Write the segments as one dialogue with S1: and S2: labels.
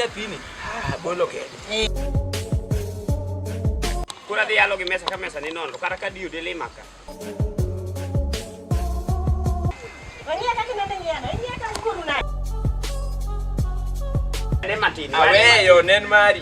S1: nyathini ah, bolo kende
S2: koro adhi yalo gi mesa ka mesa ni nono kata ka diyo dele maka aweyo nen mari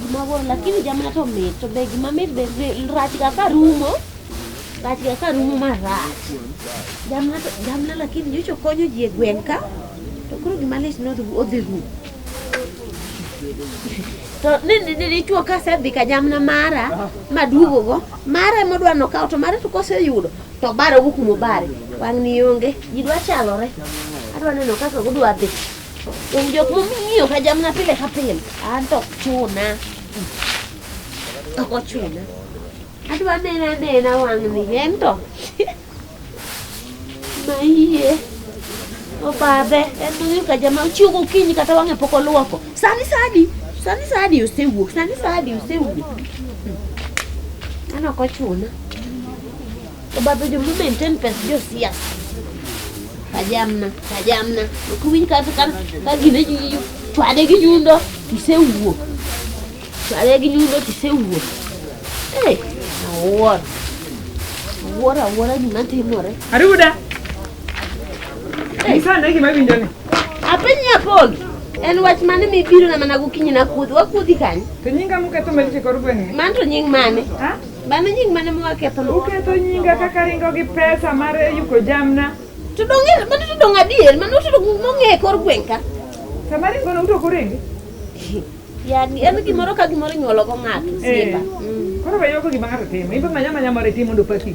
S3: Gimoro lakini jamaa to mit to be gima mit be be- rach ga ka rumo. Rach ga ka rumo ma rach. Jamna to jamna lakini nyocho konyo ji e gweng' ka. To koro gima lit no odhi rumo. To ni ni ni dichwo ka sedhi ka jamna mara maduogo go mara modwa no kawo to mara to koseyudo to bare wuok mobare wang' ni onge ji dwa chalore adwa neno kaka gudwa dhi Donge jok mong'iyo ka jamna pile ka pile, an to ok chuna. Ok ochuna. Adwa nena nena wang'ni en to. Ma iye. Obadhe, en mong'iyo ka jama ochiew gokinyi kata wang'e pok olwoko. Sani sani, sani sani osewuok, sani sani osewuok. An ok ochuna. Obabedo mu maintain pes josiasa. Tajamna, tajamna. Ok winj ka ka ka gine ji ji chwade gi nyundo tisewuok. Chwade gi nyundo tisewuok. Eh, awuoro. Awuoro awuora gima timore. Aruda.
S4: Nyisa ane gima winjo ni. Apiny nyapogi.
S3: En wach mane mibiro na mana gokinyi na kuodhi. Wakuodhi kanye? To nyinga muketho maricho
S4: e kor gweng'ni. Mano to nying mane?
S3: Ha? Mano nying
S4: mane ma
S3: waketho? Uketho nyinga kaka
S4: ringo gi pesa mar yuko jamna. To donge
S3: mano to donge adier, mano to donge mong'e e kor gweng' ka. Sama ringo no
S4: uto korenge.
S3: Yani en gimoro ka gimoro inyuolo go ng'ato. Eh. Siepa. Mm. Koro weyo ko
S4: gima ng'ato timo. Ibe manya manya mare timo ndo pati.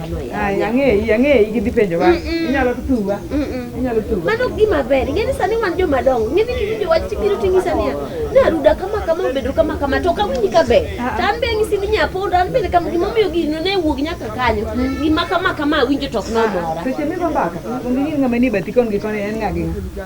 S3: Ang'eyi, ang'eyi gidhi
S4: penjowa. Inyalo tuwa. Inyalo tuwa. Mano
S3: gima ber. Ing'e ni sani wan joma dongo. Ing'e ni video wach tibiro ting'isa niya. Naruda kama kama obedo kama kama to kawinji ka ber. To an be ang'isi ni nyapondo an bende kama gima omiyo gino ne wuog nyaka kanyo. Gima kama kama awinjo to ok nomora. Seche migo mbaka,
S4: onge ng'ama ni bati kon gi koni en ng'a gi ng'a.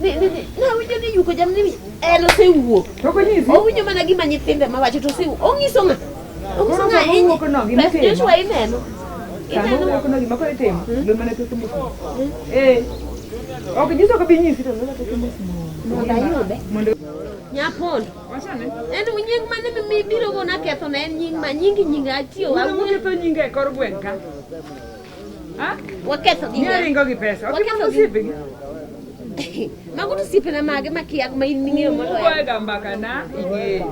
S3: Ni ni ni na winjo ni yuko jamni mi en osewuok. To ko nyisi. Owinjo
S4: mana gima nyithinde
S3: ma wacho to osewuok. Onyiso ng'a? Onyiso Koro ng'a sama owuok no, gima Beth itimo. Joshua ineno. Sama Ineno. owuok
S4: no gima koro itimo. Lo mana to tumbo. Eh. Ok nyiso ka bi nyisi to lo to tumbo. Mondo ayude. Mondo Nyapondo.
S3: wachane.
S4: En nying mane
S3: mi- mibiro go naketho na en nying ma nyingi nyinga atiyo Wuono awuoyo. moketho nyinga e
S4: kor gweng' ka. Waketho gi
S3: ng'a? Ringo gi pesa.
S4: Ok Waketho mano gi- siepe gi.
S3: Mago to osiepena mage makiya ma in ming'eyo moloyo. Ugoyo ga mbaka na
S4: ing'eyo.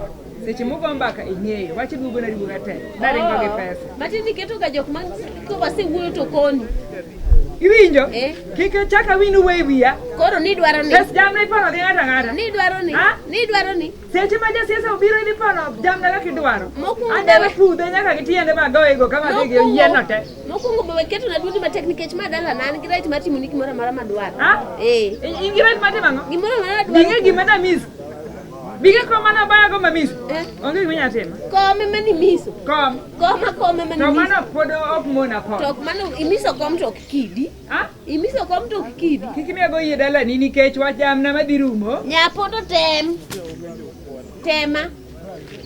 S4: Seche mugo mbaka ing'eyo. Wach duogo na duoga te. Na ringo gi pesa. Matindo iketoga jok
S3: ma kowasewuoyo to koni. Iwinjo?
S4: Eh. Kik chaka winu we wiya. Koro nidwaro ni.
S3: Pes jamna ipono gi ng'ata
S4: ng'ata. Nidwaro
S3: ni. Ha? Nidwaro ni. Seche ma jasiasa
S4: obiro idhi pono jamna kaka idwaro. Mokwongo- Adebe pudhe
S3: nyaka gi
S4: tiende ma goyego ka madhi gi yieno te. mokwongo be waketo na
S3: duondi matek nikech ma dala na an gi right mar timo ni gimoro amora madwaro Ha? ee I- In gi
S4: right mar timo ang'o? gimoro amora Binge madwaro
S3: gima na miss.
S4: Binge kom mane obayago ma miss. Eh. Onge gima inyalo timo. kome ma nimiso
S3: Kom. koma kome ma To nimiso mano pod ok
S4: mona kom. to ok mano imiso kom
S3: to ok kidi Ah, imiso kom to kikidi. Kik nego yie dalani
S4: nikech wach jamna madhi rumo. Nyapoto tem.
S3: Tema.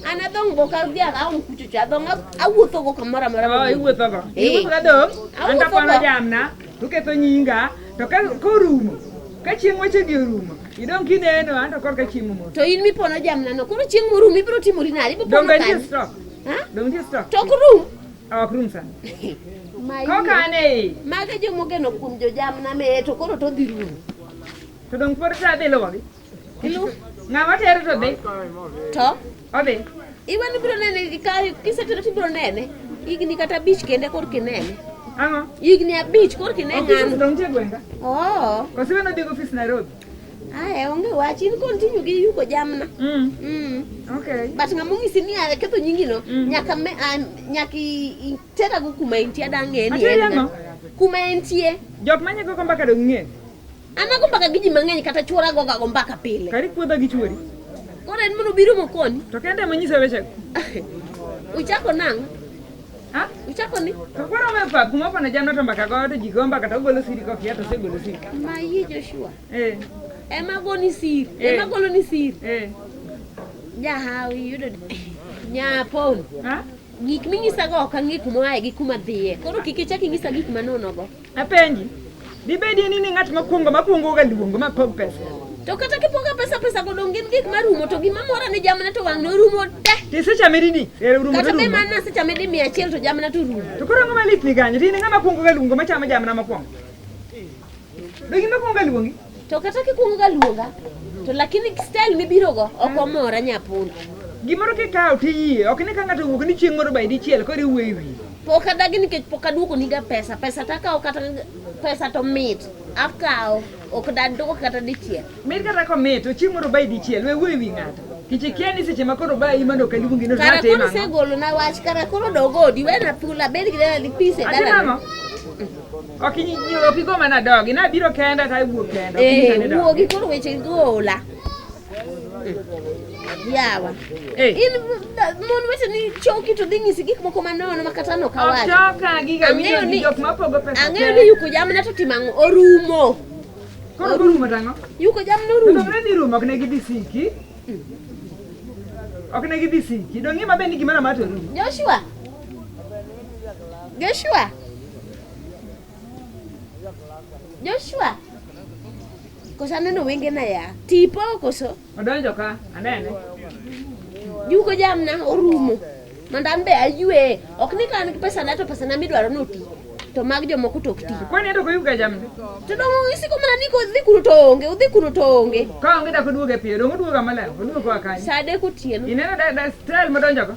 S3: An adong' go ka dhiang' aong' kucho cha adong' awuotho go kamoro
S4: amora. Oh, iwuotho
S3: go. Eh.
S4: Iwuotho ka
S3: dong'.
S4: Awuotho An kapano go.
S3: jamna
S4: to ketho
S3: nyinga
S4: to ka korumo ka chieng' wechegi orumo idong' kineno an to korka chieng' omoto. To in mipono jamnano
S3: koro chieng' morum ibiro timori nade? Ibiro Dong' pono nitie kanye? stock. Ha?
S4: Dong' nitie stock.
S3: Tok
S4: rum.
S3: ok rum
S4: sana
S3: kokane
S4: mage jomogeno
S3: kuom jojamna meye to koro to dhi rumo to dong
S4: pod sa dhi luwogi ilu
S3: ng'ama tere
S4: to dhi to
S3: odhi
S4: iwe ni biro nene
S3: kisetero to ibiro nene higni kata abich kende kor kinene ang'o higni
S4: abich kor
S3: kine ng'ano
S4: oo oh. kosibeno
S3: dhi ofis
S4: nairobi Aya, onge
S3: wach in kod tinyo gi yuko jamna. Mm. Mm.
S4: Okay. But ng'ama ong'isi
S3: ni a ketho nyingino mm. nyaka me a, nyaka itera go kuma intie dang'e ni en. Kuma intie. Jok manye go mbaka
S4: do ng'e. Ana go mbaka
S3: gi ji mang'eny kata chuora go ga go mbaka pile. Kari kuodho gi chuori.
S4: Koro en mono
S3: biro mokoni. To kende manyise weche. Uchako nang'. Ha?
S4: Uchako ni?
S3: Kakwara umepa kuma
S4: pana jana to mbaka kwa watu jigomba kata ugolo siri kwa kiato si ugolo siri. Ma hii Joshua.
S3: Eh. Ema
S4: goni siri.
S3: Eh. Ema golo ni siri. Eh. Ja hawi yudo. Nya pon. Ha?
S4: Gik minyisago
S3: ok ang'e kuma oaye gi kuma dhiye. Koro kik ichak inyisa gik manonogo. Apenji,
S4: dibedie ni ni ng'at makwongo makwongoga luongo ma pog pesa? To kata kipoga
S3: pesa pesa go dong gin gik marumo to gima mora ni jamna to wang' norumo te. Ti sechame didi?
S4: Ero rumo Kata to be rumo. mana sechame
S3: di mia achiel to jamna to rumo. To koro ang'o malit ni kanyo?
S4: Ti ni ng'ama kwongoga luongo machamo jamna makwongo? Be gima kwongoga luongi? To kata kikwongo ga
S3: luonga to lakini style mibiro go ok omora nyapundo. Gimoro kikawo
S4: tiyie, ok ni ka ng'ato owuok ni chieng' moro by dichiel koro iwuoyo e wiye. Pok adagi nikech
S3: pok aduoko niga pesa. Pesa takawo kata pesa to mit. Akawo. Ok daduoko kata dichiel. Mit kata komit,
S4: ochiemo robai dichiel. We wuoyi wi ng'ato. Kichikia ni seche ma koro ba imano ka luongi no Kara timo koro ang'o? segolo na
S3: wach kara koro dogodi wena thula bed gi dala di pise Ati dala. mama?
S4: Ok inyi- inyi- ok igo mana dogi. Nabiro kenda to awuok kenda. Ok inyisa ni Eh, dogi. wuogi koro
S3: weche gola. yawa Eh. in da- mon weteni choki to dhi nyisi gik moko manono makata Ok nokawacho choka giga Ang'eyo
S4: winjo ni- gi jok mapogo pesa. ang'eyo ni yuko jamna to
S3: timo ang'o orumo Koro
S4: orumo tang'o. yuko jamna To orumo
S3: ne dhi rumo ok ne gidhi
S4: siki. Ok ne gidhi siki. Dong' ng'ima be ni gimoro amora to rumo. joshua joshua
S3: Joshua. Koso aneno wenge na ya. Tipo koso. Odonjo ka,
S4: anene.
S3: Juko jamna orumo. Mondo an be aywe. Ok ni kan pesa na to pesa na midwaro no ti. To mag jomoko tok ti. Kwani to kuyuga jamna.
S4: To dongo isiko
S3: mana ni ko dhi kuro to onge, udhi kuro to onge. Ka onge da kuduoge piyo,
S4: dongo duoga mala, kuduoga kwa kanyo. Sade kutieno. Ineno
S3: da da style
S4: modonjo ka.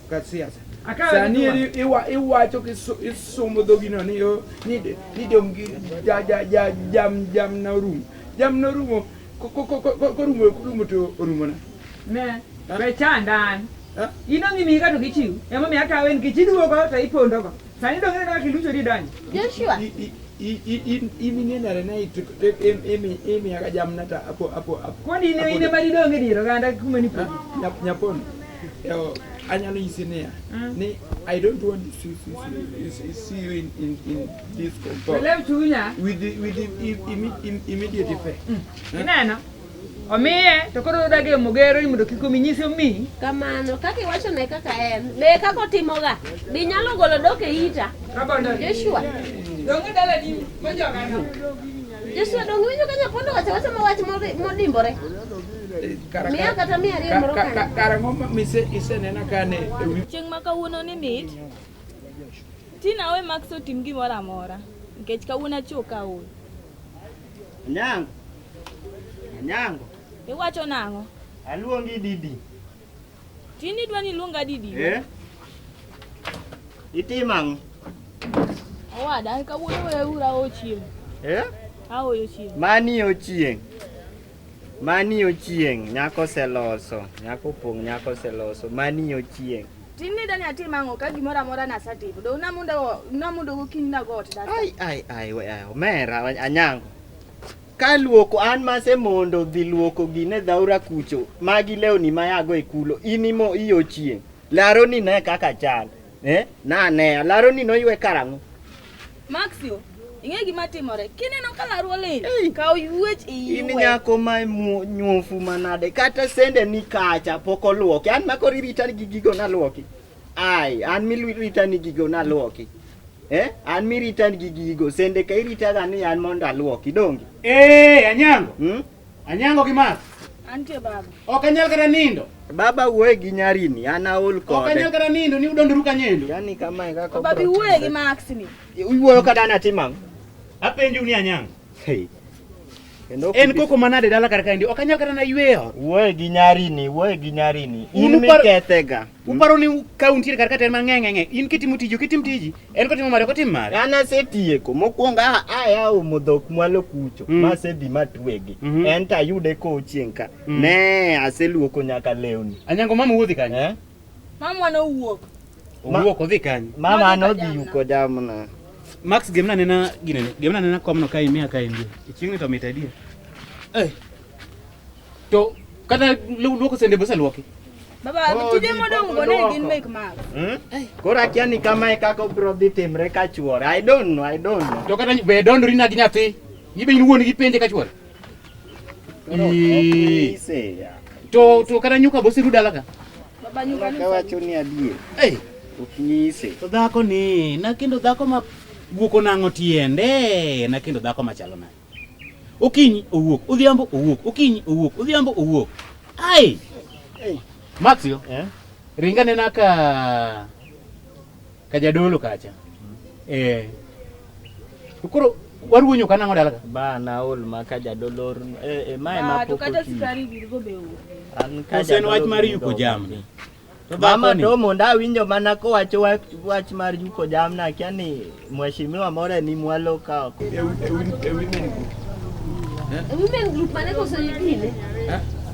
S1: ka siasa sani iwacho kisomo dhogino ni oh, dong jamna orumo jamna orumo korumo to orumona ne be
S4: chandan in ongi mi kato kichiw ema mi akawo en kichiduogo to ipondogo sani dong ineno kaka ilucho di donyo joshua
S3: iminenare
S1: naye imiyaga jamna ta apo apo apo koni ine ine
S4: mari donge diro ganda kuma ni nyapono
S1: Yo, anyalo nyisi niya ni I don't want to see, see, see, see, see you in, in, in this compound Belew chunya. with the, with the im, im, im, immediate effect. Ineno?
S4: Omiye to koro odage mogero ni mondo kik omi nyise omi. Kamano, kaka
S3: iwachone kaka en, be kaka otimoga, be inyalo golo dok e ita? Rabondo. Joshua, Donge
S4: dala ni mojoga no. Joshua
S3: donge winjo ka nyapondo wacho wacho ma wach mori- modimbore?
S1: Chieng' ma kawuono
S5: ni mit, Tina awe Max otim gimoro amora nikech kawuono achiewo ka aol. Anyango.
S2: Anyango. Iwacho
S5: nang'o? Aluongi Didi. Tini dwani luonga didi? Eh?
S2: Itimo ang'o?
S5: Owada, an kawuono weya ura awo chieng'. Eh? Aoyo chieng'. Mani ochieng'.
S2: Mani ochieng' nyako oseloso, nyako opong' nyako oseloso, mani ochieng'. Tini dani atim
S5: ang'o ka gimoro amora nasetimo. Do namundo namundo gokinyi nago
S2: ot dasa.
S5: Ai ai ai
S2: we ai
S5: omera
S2: anyango. Ka luoko an mase mondo dhi luoko gine dhaura kucho, magi lewni ma yago e kulo, in imo iyo chieng'. Laro ni ne kaka chal. Eh, na ne, laro ni noywe karang'o. Maxio,
S5: ing'e gima timore. Kineno ka laru olil, Ei. kaw yuech In iyue. nyako ma
S2: mu- nyuofu manade, kata sende ni kacha pok oluoki. An makori rita gi gigo naluoki. Ai, an mirita ni gigo naluoki. Eh, an mirita gi gigo. Sende ka irita ga ni an mondo aluoki dongi. Eh, anyango.
S6: Hmm? Anyango gi mas. Antie baba.
S5: Ok anyal kata nindo.
S6: Baba wuoye gi
S2: nyarini, an aol kode. Ok anyal kata nindo ni
S6: udondoru kanyendo. Yani kama e kaka.
S2: Baba wuoye gi Max
S5: ni. Iwuoyo kata na
S2: timang. Apenju ni
S6: anyango. Hey.
S2: En koko manade
S6: dala kar kaendi? Ok anyal kata na ywe ot. Wuoye gi nyarini,
S2: wuoye gi nyarini. In mikethega. Uparo ni
S6: ka untiere kar ka to en mang'e ng'e in kitimo tiji ok itim tiji en kotimo mare ok otim mare. An asetieko
S2: mokwongo a aya umo dhok mwalo kucho mm. masedhi matwegi mm -hmm. en to ayude kochieng' ka mm. ne aseluoko nyaka lewni. Anyango mama wuodhi kanyo.
S6: Eh? Mama
S5: nowuok. Owuok odhi kanye? Mama
S6: nodhi yuko
S2: jamna. Max gemna
S6: nena gine. Gemna nena komno ka imia ka imbi. Ichingni to mit idea. Eh. To kata luoko sende bose luoki. Baba, oh, tije
S5: modong go ne gin make mark. Hmm? Koro akia
S2: ni kama e kaka obro dhi timre ka chuore. I don't know, I don't know. To kata be
S6: dondori na gi nyathi. Ibe in wuon gi penje ka chuore. to to kata nyuka bosi ruda laka baba nyuka ni
S5: kawacho ni adie
S2: eh uknyise to dhako ni
S6: na kendo dhako ma guoko nango tiende na kendo dhako ma chalo na okinyi owuok odhiambo owuok okinyi owuok odhiambo owuok ai hey. Maxio eh? ringa nena ka Kajadolo kacha. Eh. To koro waruonyo kana ng'o dalaga? Ba na ol ma
S2: kajadolo or eh, eh ma ema Ba to pok kata oti. sukari birgo
S5: be onge. An Ose en kajadolo
S2: wach mar yuko yudo
S6: jamni. ok. To Mama dhako
S2: ni- domo ndawinjo mana kowacho wach, wach mar yuko jamna akia ni mheshimiwa moro ni mwalo ka ok. Women
S3: group mane koso yipine.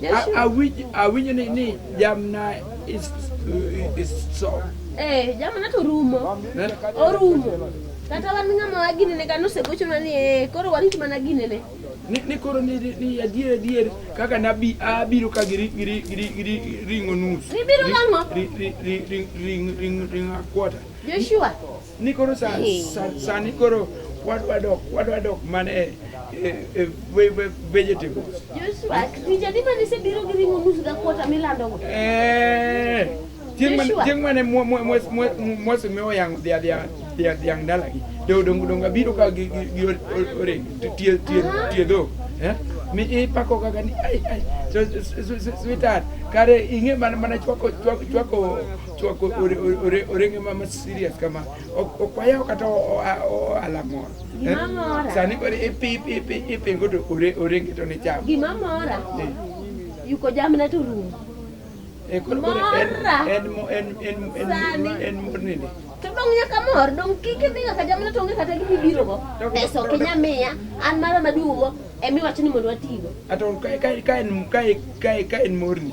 S1: Yes, you- Awinj- awinjo ni ni jamna is- is so Eh,
S3: jamana to rumo. Eh? Orumo. Kata wan ng'ama wa ginene ka nosegochona ni eh, koro warit mana ginene. ni ni koro ni
S1: ni- ni adier adier kaka nabi abiro ka gi ri- gi ri- gi ri- gi ri- ring'o nus Gibiro gang'o? Ri-
S3: ri- ri- ri- ring-
S1: ring- ring a quarter Joshua,
S3: Ni koro sa,
S1: sa, sani koro wadwa dok wadwa dok mana e e- e ve- ve- vegetables. Joshua, tich adi mane isebiro
S3: gi ring'o nus dakota milandogo? Eh, chieng' man-
S1: Joshua. chieng' mane mwa- mwa- mwa- mwa- mwase mi oyang'o dhia dhia dhia dhiang' dalagi do dongo dongo abiro ka gi gi- gi o- o- oreng t- tie tie tie dhok eh mi ipako kaka ni ai ai so- so- so- so- sweetheart kare ing'e mana mana chwako chwako chwako Chwako orenge ma ma serious kama ok wayaw kata ohala moro. Eh? Sani koro ipingo to orenge to ni cham. Gima mora
S3: eh. yuko jamna to rumo. Eh, mora.
S1: En mor nini? to dong nyaka
S3: mor dong kik idhi nyaka jamna to onge kata gima ibirogo pesa ok inya miya an mara maduogo emiwacho ni mondo watigo
S1: ka en morni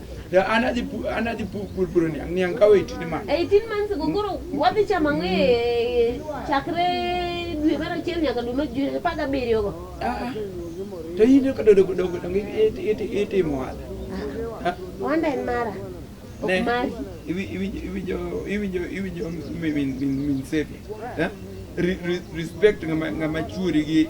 S1: Ya an adhi pu- an adhi pu- pur puro niang' niang' kawo 18 months. 18 months go koro
S3: wadhi chamo ang'o e chakre dwe mar achiel nyaka dwe mar dwe apar gabiriyo go Ah,
S1: to in ka dodo dogo dongo it- it- it- itimo wala. Ah,
S3: wanda en mara ok ne, mari iwi- iwi- iwinjo
S1: iwinjo iwinjo min min min sepi. Eh? Re- re- Respect ngama ngama chuori gi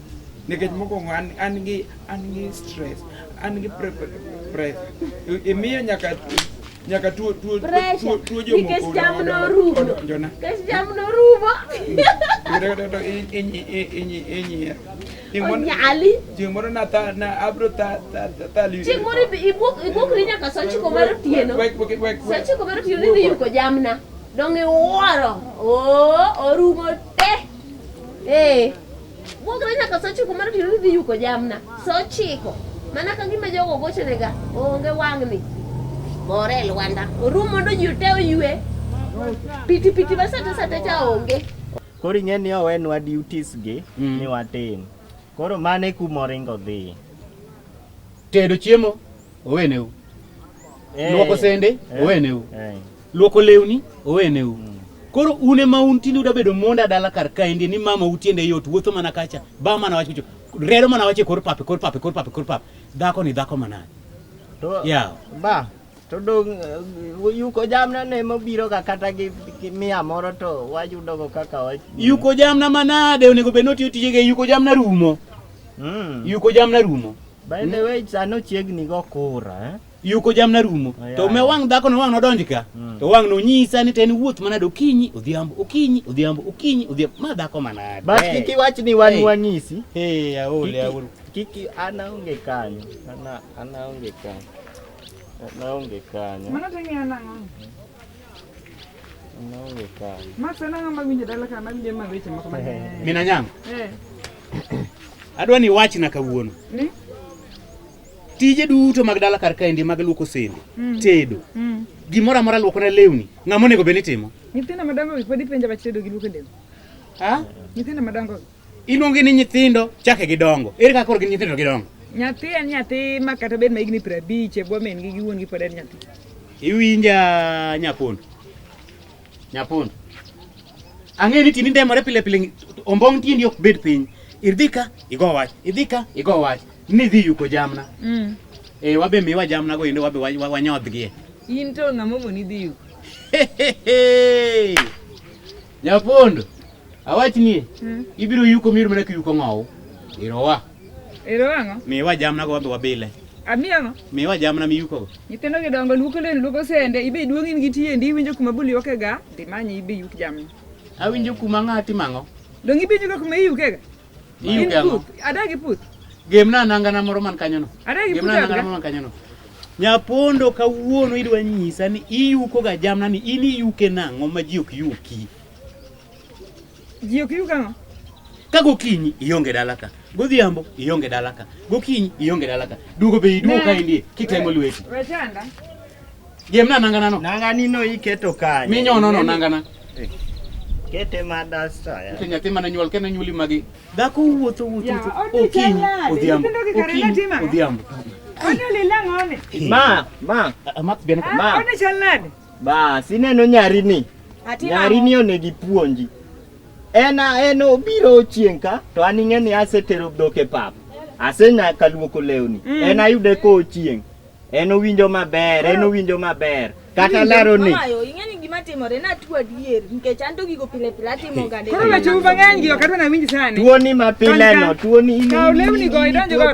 S1: nikech mokwongo an, an gi an gi stress an gi pre- pre- pressure I- imiyo nyaka nyaka tuo tuo Pressure. tuo tuo jomoko Nikech odo- cham odo-
S3: norumo. odo- jona Kes jam norumo. inyier Onyali. chieng' moro na tha-
S1: na abro tha- tha- tha- thali- Chieng' moro ibi- ibuok ibuokri
S3: nyaka saa ochiko mar otieno. Wek- wek- wek- Saa wek- ochiko mar otieno idhi yuko jamna. Dong' iwuoro. Oo, orumo te. Eh. Wuok na nyaka saa ochiko mar otieno idhi yuko jamna. Saa ochiko. Mana ka gima jogo gochonega onge wang'ni. Bore e Lwanda. Oru mondo ji te oywe. Piti piti ma sate sate cha onge. Koro ing'e ni
S2: owenwa duties gi mm. ni watim. Koro mane kuma oringo dhi.
S6: Tedo chiemo oweneu. Eh. Luoko sende eh. oweneu. Eh. Luoko lewni oweneu. Mm. Koro un ema un tinde uda bedo monda dala kar kaendi ni mama utiende yot wuotho mana kacha ba mana wach kucho rero mana wache kor pape kor pape kor pape kor pape dhako ni dhako manani. To yeah.
S2: ba
S6: to
S2: dong eh, yuko jamna ne mobiro ga kata gi, gi mia moro to wayudo go kaka wach. Yuko jamna
S6: manade onego bed notiyo tije ge yuko jamna rumo. Mm. Yuko jamna rumo. By the hmm? way,
S2: sano chiegni go kura eh. yuko jamna rumo
S6: oh, to me wang' dhako no wang' nodonj ka mm. to wang' nonyisa ni to en wuoth manade okinyi odhiambo okinyi odhiambo okinyi odhiambo ma dhako manade but kik iwach ni
S2: wan hey. wang'isi hey, aole
S6: aole kik an
S2: aonge kanyo ana ana aonge kanyo ana aonge kanyo mano to ng'e
S4: ana
S2: ng'o ana aonge kanyo max ana ng'ama winjo dala
S4: ka mawinjo ma weche moko ma mina nyang'
S6: eh adwa ni wachna kawuono ni tije duto mag dala kar kaendi mag luoko sende mm. tedo mm. gimoro amora luoko na lewni ng'ama onego bed ni timo nyithindo madongo pod
S4: ipenja bach tedo gi luoko lewni ha
S6: nyithindo madongo
S4: iluongi ni
S6: nyithindo chake gidongo ere kaka koro gin nyithindo gidongo nyathi en nyathi
S4: ma kata bed ma higni piero abich e bwo min gi gi wuon gi pod en nyathi iwinja
S6: nyakondo Nyapundo. Ang'e ni tini ndemore pile pile ombong' tiendi ok bed piny. Idhi ka igo wach, idhi ka igo wach. Ni dhi yuko jamna. Mm. Eh wabe miwa jamna go endo wabe wanyodhgie. In to ng'amo
S4: moni dhi yuko.
S6: Nyapundo. Awachni. Mm. Ibiro yuko mir mana kiyuko ng'owo. Irowa.
S4: Ero ang'o? Miwa jamna go wadhi
S6: wabile. Ami ang'o?
S4: Miwa jamna miyukogo.
S6: Nyithindo gi dongo luoko
S4: lewni luoko sende ibe iduong' in gi tiendi iwinjo kuma bul yuokega dhi manyi ibe yuk jamni. Awinjo kuma
S6: ng'ati mang'o. Donge ibe iwinjo kuma
S4: iyukega? Iyuke
S6: ang'o? Adagi puth.
S4: Gemna anangana
S6: moro man kanyono. Adagi puth. Gemna anangana moro man
S4: kanyono.
S6: Nyapondo kawuono idwa nyisa ni iyukoga jamna ni in iyuke nang'o ma ji ok yuki.
S4: Ji ok yug ang'o? Ka gokinyi
S6: ionge dala ka, godhiambo ionge dala ka, gokinyi ionge dala ka. Duogo be iduogo ka indie kitemo lweti. We chanda.
S4: Gemna
S6: nangana no. Nangani no iketo
S2: kanye. Minyono no nangana.
S6: Eh.
S2: Kete ma dasta ya. Kete nyathi mana nyuol kene nyuli
S6: magi. Dhako wuotho wuotho wuotho. Okinyi odhiambo. Okinyi odhiambo. Onyo
S4: lilang'one. Ma, ma.
S2: Amat bena.
S6: Ma. Onyo chalnade.
S4: Bas, ineno
S2: nyari ni. Nyari ni onegi puonji. En en obiro chieng' ka to an ing'e ni asetero dhok e pap. Asenya kaluoko lewni. Mm. En ayude ko chieng'. En owinjo maber, en owinjo maber. Kata laro ni. Ayo, ing'e ni gima timore
S5: na tuo adier nikech an to gigo pile pile atimo ga. Koro na chuba ng'eny gi
S4: okatwa na winji sani. Tuo ni ma pile
S2: no, tuo ni. Kaw lewni go idonjo
S4: go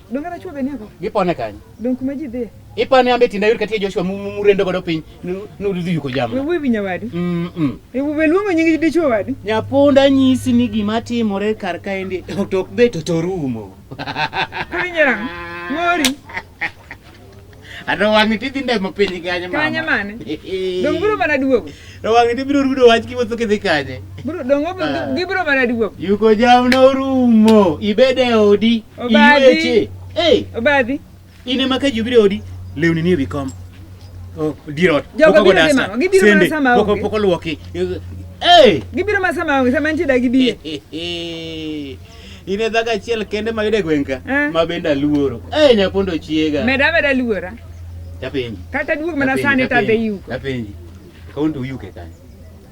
S4: Donge na chuo
S6: gani ako?
S4: Gipone kanyo. Donge kuma
S6: ji dhie?
S4: Ipane ambe tinda yur
S6: katie Joshua murendo godo piny nudhi yuko jamu. Wewe winya wadi.
S4: Mm. -mm. Wewe luongo nyingi dichuo wadi. Nyapunda nyisi
S6: ni gima timore kar kaendi otok be to torumo. Kali
S4: nyera. Mori.
S6: Ato wang'i ti dhi ndemo piny kanye mama. Kanye mane?
S4: Dong biro mana duogo. To wang'i ti biro rudo
S6: wach kiwuotho kidhi kanye. Biro dong obo ah.
S4: gibiro mana duogo. Yuko jam no
S6: rumo. Ibede odi. Obadhi. Hey. Obadhi. Ine maka jubire odi. Lewni ni bikom. Oh, dirot. Jogo biro dhi mama.
S4: Gibiro mana sama ogi. Poko poko luoki.
S6: Hey.
S4: Gibiro mana sama ogi. Sama nchi da gibiro. In
S6: e dhako achiel kende ma yude gweng' ka Eh. ma bende aluoro. Eh nyapondo chiega. Meda meda luora.
S4: Tapenji.
S6: Kata duog mana Tapenji,
S4: sani tapenji, tadhi yuko. Tapenji.
S6: Kaun to uyuke kanyo.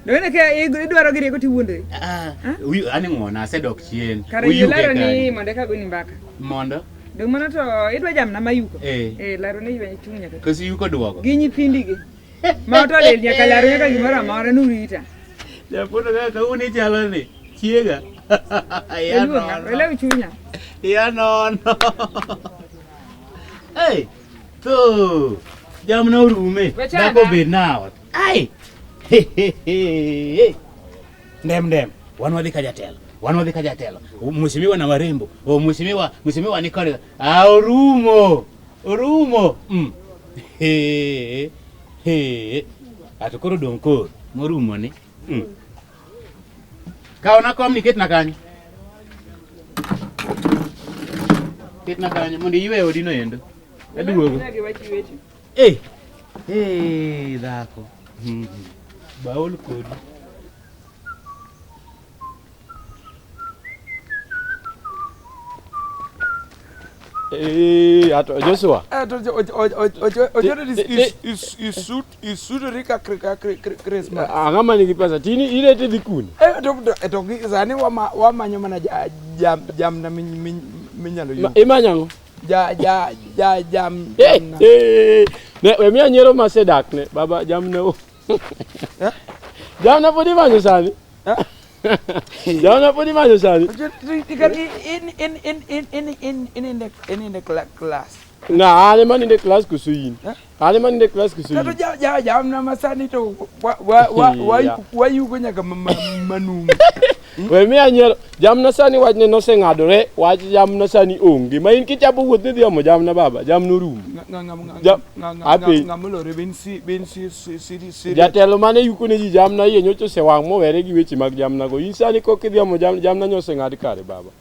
S6: Dogene ke
S4: idwaro gi rieko tiwuondori. Ah, uyu ani
S6: ng'wona asedok chien. Kare Uyuke ilaro ni kanyo.
S4: mondo eka goni mbaka. Mondo. Dong
S6: mano to
S4: idwa jamna mayuko. Eh. Eh laro ni ywe chung nyaka. Kosi yuko duogo. Gi
S6: nyithindi gi.
S4: Ma otolel nyaka laro nyaka gimoro amora nurita. Nyapondo
S6: kaka kaun ichalo ni. Chiega. Iya Iluonga, nono. ilew chunya.
S4: Iya
S6: nono. Hey, to jamna orume. Wechana. Dhako bed naot. Ai. Ndem ndem. Wan wadhi ka jatelo. Wan wadhi ka jatelo. Mheshimiwa na warembo. O mheshimiwa, mheshimiwa ni kore. Ah, orumo. Orumo. Mm. He. He. Ato koro dong' koro. Morumo ni. Mm. Kao na kom ni ket na kanyo. Ket na kanyo mondo iwe odi no endo. Aduogo. Eh. Eh, dhako. Baol kodi.
S7: Hey, eh, Joshua. Eh, Joshua is, is,
S1: is, is suit isutu rikakrismas ang'ama nigi pesa
S7: tini ile tidhi kune eh, to eh,
S1: sani wamanyo mana jamna minyalo yudo imanyo ang'o
S7: wemiya nyiero masedakne baba jamna o eh? jamna pod imanyo sani jamna pod imanyo sani
S1: ininde klas na an ema
S7: ninde klas koso in ale man ne class kisu tato ja ja ja amna
S1: masani to wa wa wa wa wa yugo nyaka manung we mi
S7: anyero jamna sani wach ne noseng'adore wach jamna sani onge ma in kichabo wuoth ni dhiyomo jamna baba jamna orumo
S1: jatelo mane yuko
S7: ne ji jamna iye nyocha osewang' mowere gi weche mag jamnago in sani kok idhiyomo jamna nyo oseng'ad kare baba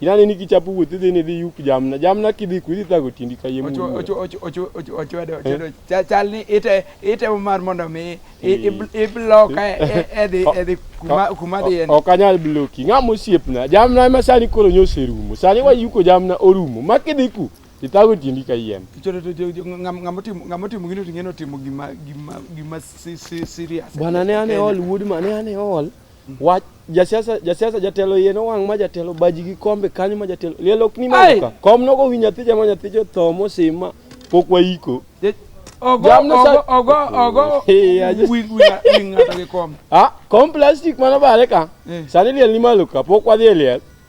S7: Inane ni kichapo wuoth idhi ni idhi yup jamna. Jamna kidhi ku idhi thago tindi ka yie Ochu- mulu. ochu- ochu- ochu- ochu- ochwedo-
S1: ochwedo. Cha- chal ni ite- itemo mar mondo mi i- i- ibl- ibloka e- e- edhi edhi kuma- kuma dhi en Ok anyal bloki. Ng'ama
S7: osiepna. Jamna ema sani koro nyo oserumo. Sani wayuko jamna orumo. Ma kidhi ku ithago tindi ka yien. Cholo to jo- jo- ng'am- ng'ama otimo- ng'ama otimo
S1: gino to ing'eni otimo gima gima gima si- si- serious Bwana ne ane En- ol
S7: wuod ma ne ane ol. Wach jasiasa jasiasa jatelo yeno wang' ma jatelo baji gi kombe kanyo ma jatelo liel ok ni Ai! maduka kom nogo wi nyathi jama nyathi jotho mosima pok wayiko Ogo, Jamna sa- ogo,
S1: ogo, ogo. Hey, I just- Wing, wing, wing, ng'ato gi kom. ah kom plastic
S7: mano bare ka Eh. sani liel ni malo ka pok wadhi e liel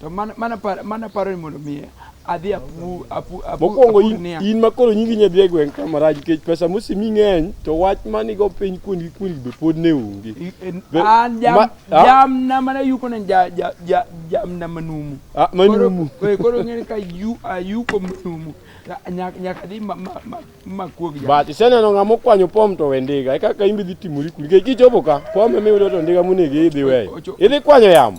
S7: To mana mana par
S1: mana paro ni mondo mi adhi apu apu apu. Mokwongo apu in,
S7: niang'. in ma koro nyingi nya dhi e gweng' kama rach nikech pesa mosimi ng'eny to wach manigo piny kuongi kuongi be pod ne onge. I- en- Be- An jam
S1: ma- ah. jamna mana yuko ne ja ja ja jamna manumu. Ah, manumu. Koro- eh, Koro ng'eni ka yu ayuko manumu. Ka- Nyaka nyaka dhi ma ma ma ma kuog ja. But iseneno
S7: ng'ama okwanyo pom to we ndiga eka ka imbe dhi timori kuli nikech kichopo ka pom ema iyudo to ndiga monego idhi weyo. Ocho- Idhi kwanyo yamo.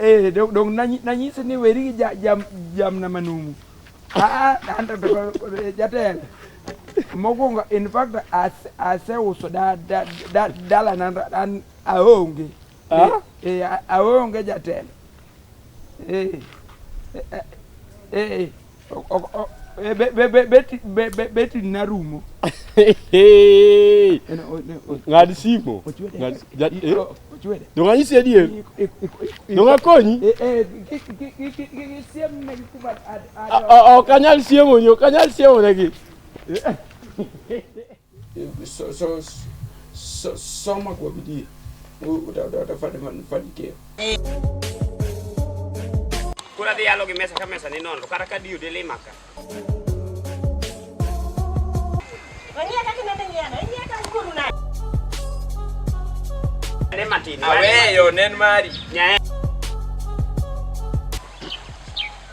S1: Eh, dong dong nanyi nanyi sini weri jam jam jam nama numu. Ah, anda to jatel. Mogonga in fact as as uso da da da dala nan dan aonge. Ah? Eh, aonge jatel. Eh. Eh. eh. betri narumo
S7: ng'ad simo nong'anyisi adier nong'akonyi ok anyal siemonyi ok anyal siemonegi So, so,
S1: so, soma kwa bidii utafanikiwa.
S8: Kura dhi yalo gi mesa ka mesa ni nono kata ka diyo dele maka.
S3: Wanyia kati mende nyiano, inyia kati kuru na.
S8: Ne matini. Aweyo, nen
S1: mari. Nyae.